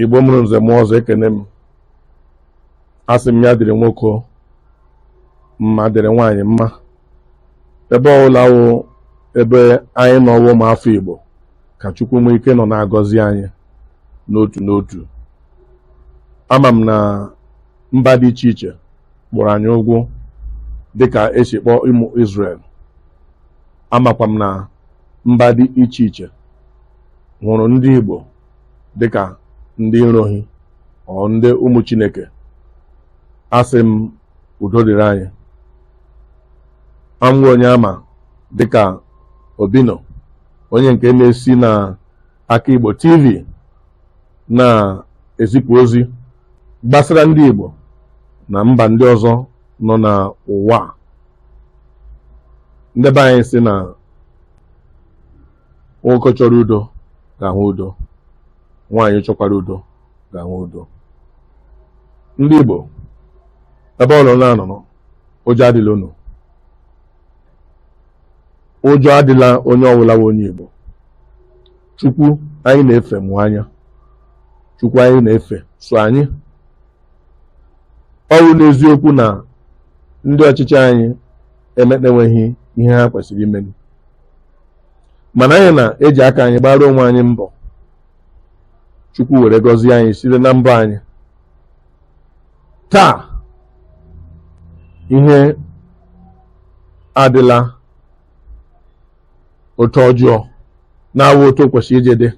igbo mụrụ nze mụọ ọzọ ekene m asị m ya dịrị nwoke mma dịrị nwaanyị mma ebe ọbụla wụ ebe anyị nọ wụ ụmụ afọ igbo ka chukwu nwee ike nọ na-agọzi anyị n'otu n'otu ama m na mba dị iche iche kpọrọ anyị ụgwụ dịka esi kpọọ ụmụ Israel amakwa m na mba dị iche iche hụrụ ndị Igbo dịka ndị nrohi ọ ndị ụmụ Chineke asị m udo dịrị anyị awụ m onye a ma dịka Obino onye nke na-esi na aka Igbo TV na-ezipụ ozi gbasara ndị Igbo na mba ndị ọzọ nọ n'ụwa nde be anyị sị na nwoke chọrọ udo ga-ahụ udo nwaanyị chọkwara udo ga-ahụ udo ndị Igbo ebe unu na-anọrọ ụjọ adịla unu ụjọ adịla onye ọbụla bụ onye Igbo Chukwu anyị na-efe mụ anya Chukwu anyị na-efe so anyị ọ bụ n'eziokwu na ndị ọchịchị anyị emenweghị ihe ha kwesịrị imeni mana anyị na-eji aka anyị gbara onwe anyị mbọ chukwu were gọzie anyị site na mbọ anyị taa ihe adịla otu ọjọọ na-awụ otu o kwesịrị iji dị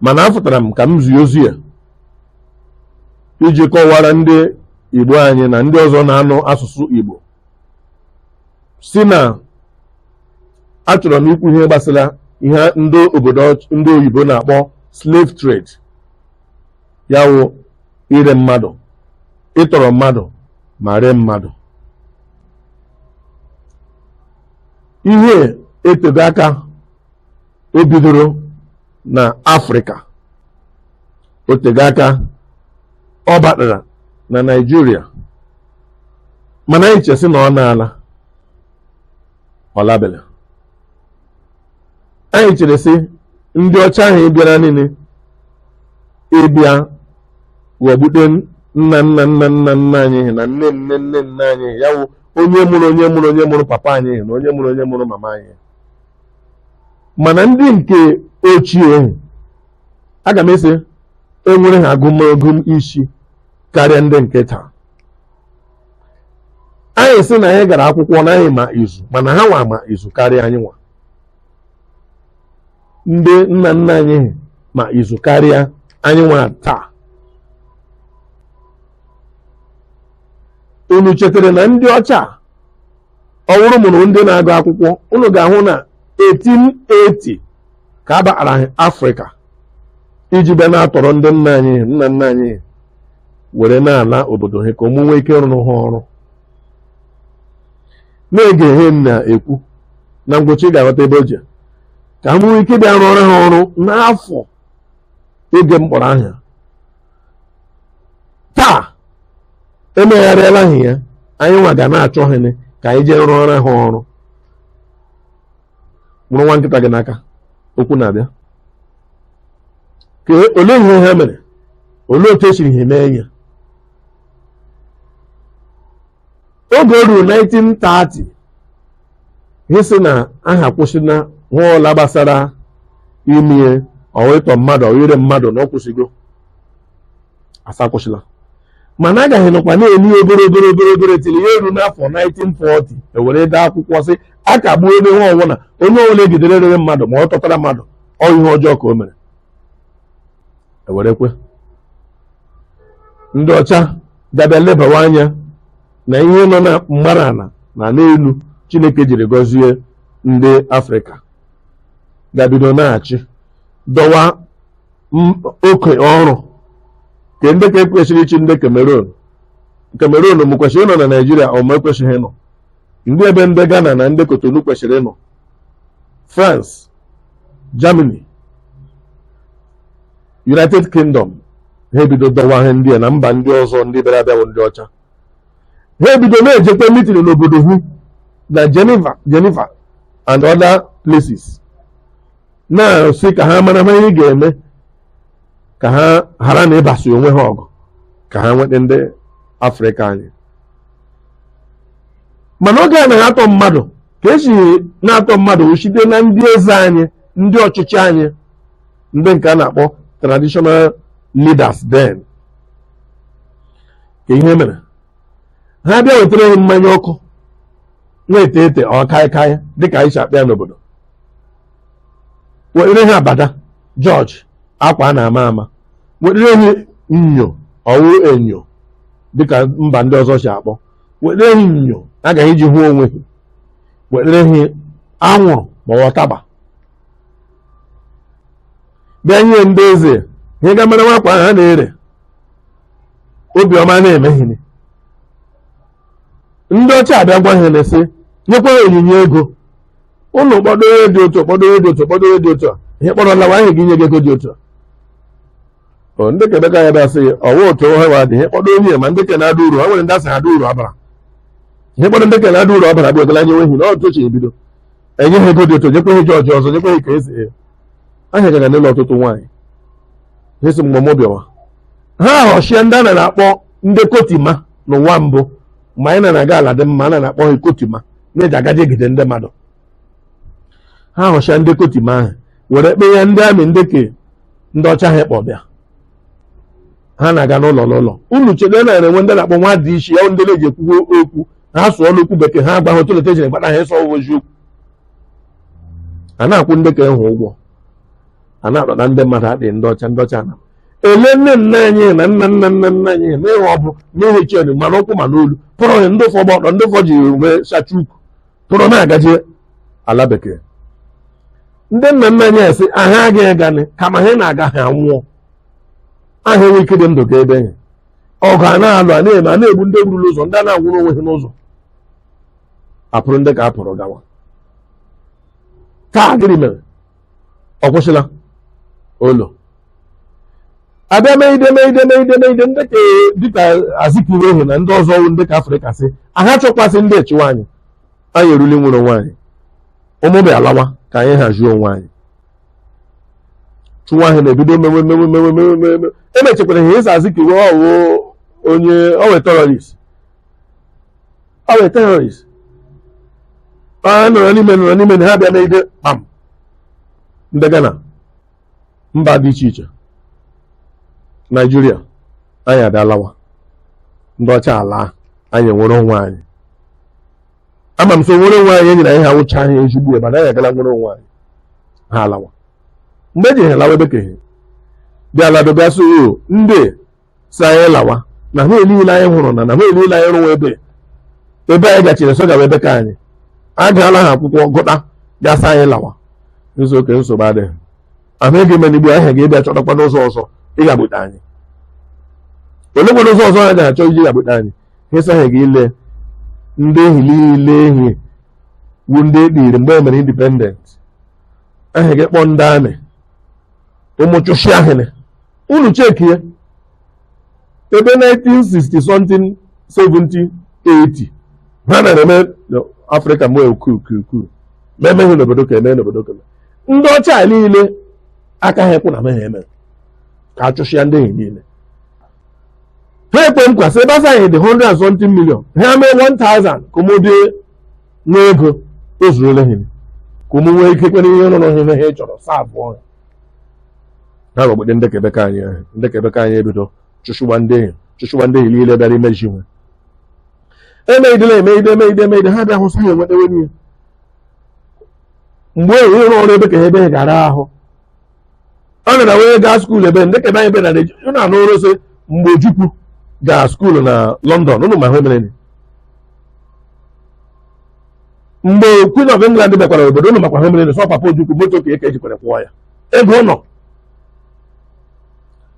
mana afụtara m ka m zie ozi a iji kọwara ndị igbo anyị na ndị ọzọ na-anụ asụsụ igbo sị na achọrọ m ikwu ihe gbasara ihe ndị obodo ndị oyibo na-akpọ slave trade ya wụ ire mmadụ ịtọrọ mmadụ ma ree mmadụ ihe etego aka o bidoro na afrịka o tego aka ọ batara na naijiria mana anyị chere sị na ọ naala ọ labela anyị chere sị ndị ọcha ahụ bịara niile ịbịa ghọgbute nna nna nna nna nna anyị na nne nne nne nne anyị ya wụ onye mụrụ onye mụrụ onye mụrụ papa anyị na onye mụrụ onye mụrụ mama anyị mana ndị nke ochie ahụ aga m asị enwere ha agụmagụ isi karịa ndị nke taa anyị sị na anyị gara akwụkwọ na anyị ma izu mana ha nwa ma izu karịa anyị nwa ndị nna nna anyị ha ma izu karịa anyị nwa taa unu chetara na ndị ọcha ọ bụrụ unu wụ ndị na-agụ akwụkwọ unu ga-ahụ na 1880 ka a batara anyị afrịka iji bịa na-atọrọ ndị nna anyị ha nna nna anyị ha were na-ala obodo ha ka ụmụ nwee ike rụọrọ ha ọrụ na-ege ihe m na-ekwu na ngwụcha ị ga-aghọta ebe o ji ka ụmụ nwee ike bịa rụọrọ ha ọrụ n'afọ oge m kpọrọ aha emegharịala ha ya anyị nwa ga na-achọ ha ka anyị jee rụọrọ ha ọrụ mụrụ nwa nkịta gị n'aka okwu na-abịa ka olee ihe ha mere olee otu esiri ha mee ya oge o ruru 1930 ha sị na ha akwụsịna ihe ọbụla gbasara ime ọ wụ ịtọ mmadụ ọ wụ ire mmadụ na ọ kwụsịgo a sị akwụsịla mana agaghị nọkwa na-ere ya obere obere obere obere till ya eruo n'afọ 1940 ewere dee akwụkwọ sị a kagbuo ebe nwa ọbụla onye ọbụla egidere rere mmadụ ma ọ tọtara mmadụ ọ ihe ọjọọ ka o mere ewerekwe ndị ọcha ga bịa lebawa anya na ihe nọ na mbara ala na n'elu chineke jiri gọzie ndị afrịka ga bido na-achị dọwa m- oke ọrụ kee ndị ka ekwesịrị ịchị ndị Cameroon Cameroon ụmụ kwesịrị ịnọ na Naịjirịa ụmụ ekwesịghị ịnọ ndị ebe ndị Ghana na ndị Cotonou kwesịrị ịnọ France Germany United Kingdom ha ebido dọwa ihe ndị a na mba ndị ọzọ ndị bịara abịa bụ ndị ọcha ha ebido na-ejekwa mitin n'obodo ha na Geneva Geneva and other places na-asị ka ha mara ma ihe ga-eme ka ha ghara na ịbasi onwe ha ọgụ ka ha nweta ndị afrịka anyị mana oge a anaghị atọ mmadụ ka esi na-atọ mmadụ wụ site na ndị eze anyị ndị ọchịchị anyị ndị nke a na-akpọ traditional leaders then kee ihe mere ha bịa wetara ha mmanya ọkụ na-ete ete ọ kaịkaị dịka anyị si akpọ ya n'obodo wetere ha abada jọji akwa a na-ama ama wetere ha nyo ọwụ enyo dịka mba ndị ọzọ si akpọ wetere ha nyo agaghị iji hụ onwe ha wetere ha anwụrụ ma ọ taba bịa nye ndị eze ihe ga mere nwakwa ahụ a na-ere obiọma na-emeghịrị ndị ọcha abịa gwa ha na-esi nyekwa ha onyinye ego ụnụ kpọdo onye dị otu kpọdo onye dị otu kpọdo onye dị otu a ihe kpọrọ lawa anyị ga-enye gị ego dị otu a O, ndị ke bekee abịa sị ọwa otu ha wa dị ihe kpọdo onye ma ndị ke na-ada uru ha nwere ndị asị ha ada uru ọbara ihe kpọdo ndị ke na-ada uru ọbara bụ ekele anya nwehi na ọtụ chi ebido enye ha ego dị otu nyekwa ha jọji ọzọ nyekwa ha ike esi ahịa gara n'ụlọ ọtụtụ nwaanyị ha si mgbe mụ bịawa ha ahọcha ndị a na-akpọ ndị kotima n'ụwa mbụ mgbe anyị na-aga ala dị mma a na-akpọ ha kotima na-eji agaje egide ndị mmadụ ha họcha ndị kotima ahụ were kpe ya ndị amị ndị ke ndị ọcha ha kpọ bịa ha na-aga n'ụlọ n'ụlọ unu chete na e nwe ndị na-akpọ nwa DC ya ndị na-eji ekwu okwu ha sụọ n'okwu bekee ha agbaghị otu leta ejiri gbata ha ịsụ okwu a na-akwụ ndị ke ahụ ụgwọ a na-akpọta ndị mmadụ adịghị ndị ọcha ndị ọcha na ele nne nna anyị na nna nna nna nna anyị na ihe ọ bụ n'ihi chen ma n'ụkwụ ma n'olu kpụrụ ha ndị ụfọdụ gba ọtọ ndị ụfọdụ ji uwe sachie ukwu kpụrụ na-agaje ala bekee ndị nna nna anyị asị aha agaghị aganị kama ha na-aga ha nwụọ aha enwe ike dị ndụ gaa ebe ahụ ọgụ a na-alụ a na-eme a na-egbu ndị e gburu n'ụzọ ndị a na-anwụrụ onwe ha n'ụzọ akpụrụ ndị ke a kpụrụ gawa taa gịnị mere ọ kwụsịla olo abịa meide meide meide meide ndị ke dịka Azikiwe ahụ na ndị ọzọ ndị ke Afrịka sị aha chọkwasị ndị echiwa anyị anyị erule inwere onwe anyị ụnụ bịa lawa ka anyị hazie onwe anyị chịwa ahụ na-ebido mewe mewe mewe mewe mewe mewe emechekwara ha sị Azikiwe ọwụ onye ọwụ terrorist ọwụ terrorist ọ nọrọ n'ime nọrọ n'ime na ha bịa meide kpam ndị Ghana mba dị iche iche Naijiria anyị adalawa ndị ọcha ala anyị nwere onwe anyị ama m so nwere onwe anyị enyere anyị awụchaghị ezigbo ebe anyị agala nwere onwe anyị ha alawa mgbe eji ha lawa ebe kehe bịa lado bịa so ndị sị anyị lawa na ha niile anyị hụrụ na na ha niile anyị rụwa ebe ebe anyị gachiri so gawa ebe ka anyị a gaala ha akwụkwọ gụta ga-asị anyị lawa a sị okay nsogbu adịghị ahụ ego ime ni gbuo ha ga-abịa chọtakwa n'ụzọ ọzọ ịghagbute anyị olekwa ụzọ ọzọ ha ga-achọ iji ghagbute anyị ha sị ha ga ile ndị ehi niile ehi wu ndị ekpiri mgbe e mere indipendent ha ga kpọọ ndị amị ụmụ chụchịa hị nị unu chekie ebe 1960 something 70 80 ihe na-eme afrịka mgbe kuu kuu kuu ma emeghị n'obodo ka eme n'obodo ka ndị ọcha niile aka ha ekwu na meghị eme ka achụchịa ndị ehi niile ha ekwe nkwa sị ebe a sị anyị dị 100 something million ha mee 1000 ka ụmụ bịa nwee ego o zurule ha ka ụmụ nwee ike kwere ihe rụrụ ihe ha chọrọ saa abụọ ha ha gbagbede ndị kebeka anyị ahụ ndị kebeka anyị ebido chụchịwa ndị ehi chụchịwa ndị ehi niile bịara imeziwe emeidela emeide emeide emeide ha bịa hụsa ha enwetewe n'ihe mgbe enyi ịrụ ọrụ ebe ka ha ebe ha gara ahụ ọ na na wee gaa skuul ebe ndị ka ebe anyị be na na-eji unu anụrụ sị mgbe ojukwu gaa skuul na london unu ma ihe mere ni. mgbe queen of england bịakwara obodo unu makwa ihe mere ni, sọ papa ojukwu moto ke ya ka e jikwara kwọọ ya ego ọ nọ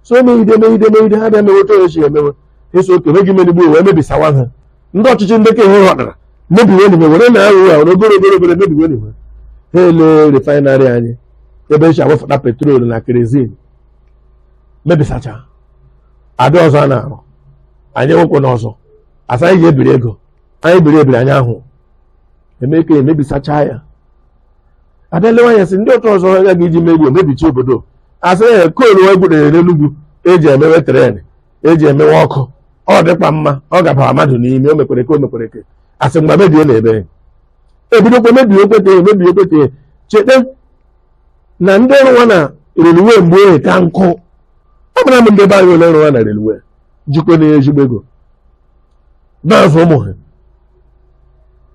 so meide meide meide ha bịa mewe otu e si emewe ha sị okay meghị me ni gbuo wee mebisawa ha ndị ọchịchị ndị ka enweghị ọdara mebiwe enyi were na ahụ ha were obere obere obere mebiwe enyi ha ele refainarị anyị ebe e si ewefụta petrol na kerozin mebisacha a bịa ọzọ a na-arụ anyị nwekwa n'ọzọ a sị anyị ga-ebiri ego anyị biri ebiri anyị ahụ eme ka emebisacha ya a bịa lewa ya sị ndị otu ọzọ a ga-eji mebi e mebichi obodo asị ya koolu e gwutere n'Enugwu eji emewe tren eji emewe ọkụ ọ dịkwa mma ọ gabara mmadụ n'ime o mekwere ke o mekwere ke asị mgbe mebie na ebe ebidokwa mebie Ogbete mebie Ogbete chete na ndị rụwa na reluwe mgbe ohe ka nkụ ọ bụla m ndị be anyị ole rụwa na reluwe jikwa na ezigbo ego na-azụ ụmụ ha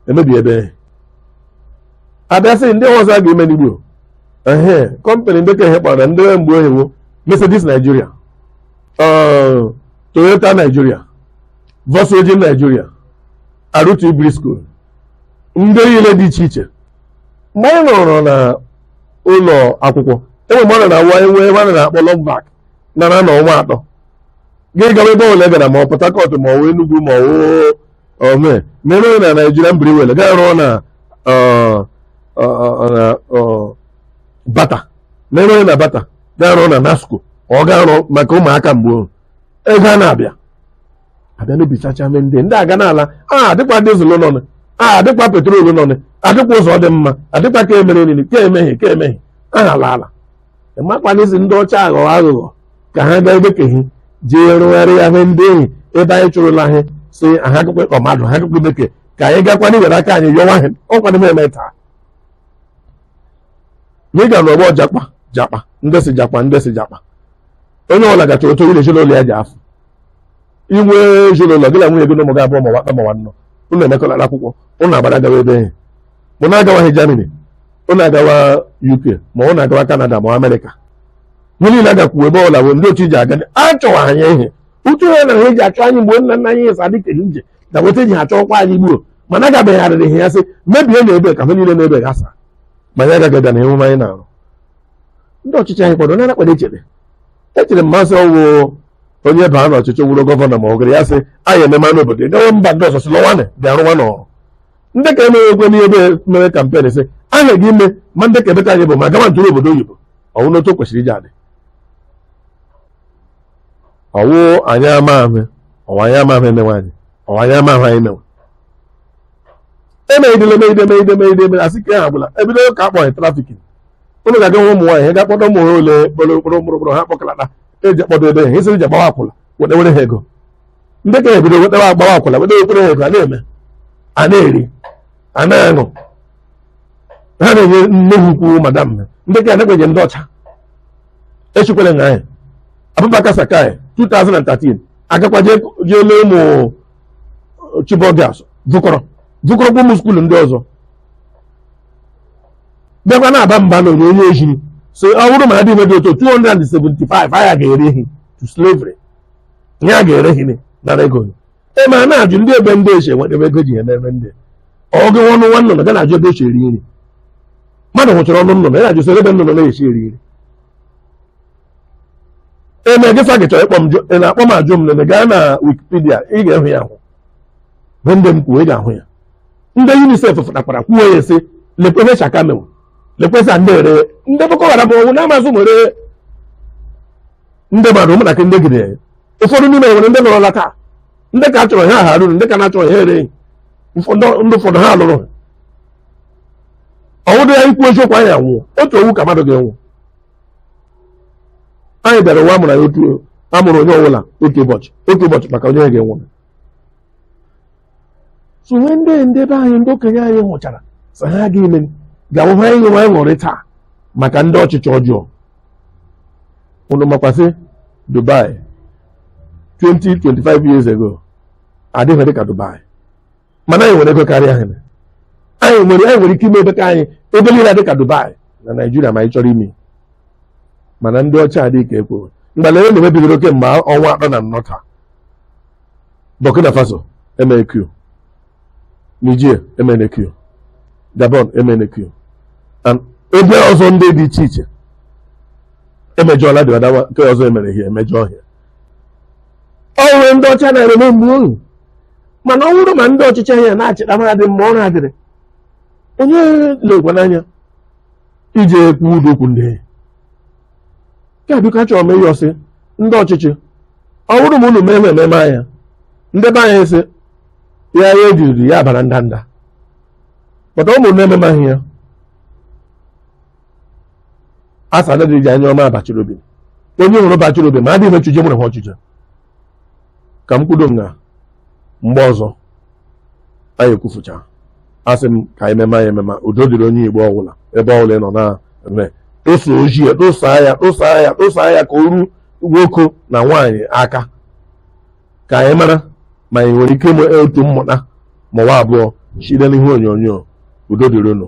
emebi ebe a bịa sị ndị ọzọ a ga-eme ni gbuo ehe kọmpanị ndị ka ihe kpọrọ ndị mgbe ohi wụ Mercedes Nigeria Toyota Nigeria Volkswagen Nigeria RT Briscoe ndị niile dị iche iche mgbe anyị nọrọ na ụlọ akwụkwọ enwe mmadụ na-awa enwe ebe a na-akpọ Longback nara na ọnwa atọ gị gawa ebe ọbụla ị gara ma ọ Port Harcourt ma ọwụ Enugu ma ọwụ ome mere onye na Nigerian Brewery gaa rụọ na ọ, ọ, ọ, na ọ, Bata mere onye na Bata gaa rụọ na NASCO ọ gaa rụọ maka ụmụaka mgbe ego a na-abịa abịa mebisacha mee ndị ndị aga n'ala a dịkwa dizụl nọnụ adịkwa petrol nọnụ adịkwa ụzọ dị mma adịkwa ka emere nini ka emehie ka emehie aha ala ala ịmakwanịzi ndị ọcha aghọ aghụghọ ka ha gaa ebekeghị jee rụgharị ya hụ ndị enyi ebe anyị chụrụla ha si aha akụkọ ịkọ mmadụ ha akụkọ bekee ka anyị gakwana iwere aka anyị yọwa ha ọkwana m eme taa n'ịga na ọgbọ jakpa jakpa ndị si jakpa ndị si jakpa onye ọbụla ga-achọrọ otu ile ezinụlọ ya ji afụ inwe ezinụlọ gị na nwunye gị na ụmụ gị abụọ ma ọwụ atọ ma ọwụ anọ unu emekọlara akwụkwọ unu agbara gawa ebe enyi ma unu agawaghị Germany unu agawa UK ma unu agawa Canada ma Amerịka ha niile agakwuo ebe ọbụla bụ ndị otu iji aga achọwa anyị ihe uche ha na ha eji achọ anyị mgbe nna nna anyị esa dịka ije na weta eji ha chọọkwa anyị gbuo mana agabegharịrị ha ya sị mebie na ebe ka ha niile na-ebe gasa ma anyị agaghị bịa na emume anyị na-arụ ndị ọchịchị anyị kwado nara kpere echere echere mmasị ọwụ onye baa n'ọchịchị wụrụ gọvanọ ma ọ gara ya sị anyị ememe n'obodo gawa mba ndị ọzọ si lọwanị bịa rụwa n'ọrụ ndị ka emere ekwe n'ihe ebe mere campaign sị aha gị ime ma ndị ka emeta anyị bụ ma gama ntụrụ obodo oyibo ọwụ n'otu o kwesịrị iji adị ọwụ anyị ama ahụ ọwụ anyị ama ahụ emewe anyị ọwụ anyị ama ahụ anyị mewe emeghidele megide megide megide megide asị ka ha gwụla ebido ka akpọghị trafficking ụnụ ga-aga nwa ụmụ nwaanyị ga-akpọta ụmụ nwaanyị ole kpọrọ kpọrọ kpọrọ ha kpọkalata eji akpọdo ebe ha esiri ji agbawa akwụla wetewere ha ego ndị ka ebido wetewa agbawa akwụla wetewekwere ha ego a na-eme a na-eri a na-aṅụ ha na-enye nne ha ukwu madam ndị ka anagbeje ndị ọcha echikwere na anyị Abubakar Shekau 2013 agakwa jee jee lee ụmụ Chibok girls vukọrọ vukọrọkwa ụmụ skuulu ndị ọzọ bịakwa na-aba mba na onyonyo ejiri sị ọ bụrụ ma adịghị dị otu 275 aya ga-ere hi to slavery ihe a ga-ere hi nara ego gị ebe a na-ajụ ndị ebe ndị esi nweta ebe ego ji ya n'ebe ndị ọ gị ọnụ nwa nnụnụ ga na-ajụ ebe esi eri nri mmadụ nwụchara ọnụ nnụnụ ya na-ajụ soro ebe nnụnụ na-esi eri nri eme gị fa gị chọrọ ịkpọ m jụ ị na-akpọ m ajụ m nene gaa na Wikipedia ị ga-ehụ ya ahụ bụ ndị m kwuo ị ga-ahụ ya ndị UNICEF fụtakwara kwuo ya sị lekwe ihe Shekau mewu lekwesa ndị ere ndị Boko Haram ọnwụ na-amazụ nwere ndị mmadụ ụmụntakịrị ndị gide ụfọdụ n'ime nwere ndị nọrọla taa ndị ka chọrọ ha ha ruru ndị ka na-achọrọ ha ere ndị ụfọdụ ha lụrụ ọ wụdị anyị kwuo eziokwu anyị anwụọ otu ọnwụ ka mmadụ ga-anwụ anyị bịara ụwa amụrụ anyị otu amụrụ onye ọbụla otu ụbọchị otu ụbọchị maka onye ga-anwụ so o nwe ndị ndị be anyị ndị okenye anyị hụchara sị ha aga ime ga-ahụ ha ịṅụ anyị ṅụrị taa maka ndị ọchịchị ọjọọ unu makwa sị Dubai 20 25 years ago adịghị dị ka Dubai mana anyị nwere ego karịa ha anyị nwere anyị nwere ike ime ebe ka anyị ebe niile dị ka Dubai na Naịjirịa ma anyị chọrọ ime mana ndị ọcha adịghị ka ekworo mgbala e na-eme bidoro kemgbe ọnwa atọ na anọ taa Burkina Faso emere coup Niger emena coup Gabon emena coup and ebe ọzọ ndị dị iche iche emejọla dị ọdawa nke ọzọ emere ihe emejọ ọhịa ọnwe ndị ọcha na-eme mgbe ohu mana ọ bụrụ ma ndị ọchịchị ahịa na-achịta mmadụ mma ọ na-adịrị onye lekwa n'anya ije ekwu ụdị okwu ndị nke a biko achọrọ m ịyọ sị ndị ọchịchị ọ bụrụ ma unu mee na ememe anya ndị be anyị sị ya ya ejiriri ya bara ndanda pụta ụmụ na-ememaghị ya asa adịghị eji anya ọma abachiri obi onye hụrụ bachiri obi ma adịghị mechuje mụrụ ha ọchịchị ka m kwudo m na mgbe ọzọ anyị ekwufucha asị m ka anyị mema ya emema udo dịrị onye Igbo ọbụla ebe ọbụla ị nọ na-eme tụsa ozi a tụsa ya tụsa ya tụsa ya ka o ruo nwoke na nwaanyị aka ka anyị mara ma anyị nwere ike ịmụ otu mmụta ma ọ bụ abụọ site n'ihe onyonyo udo dịrị unu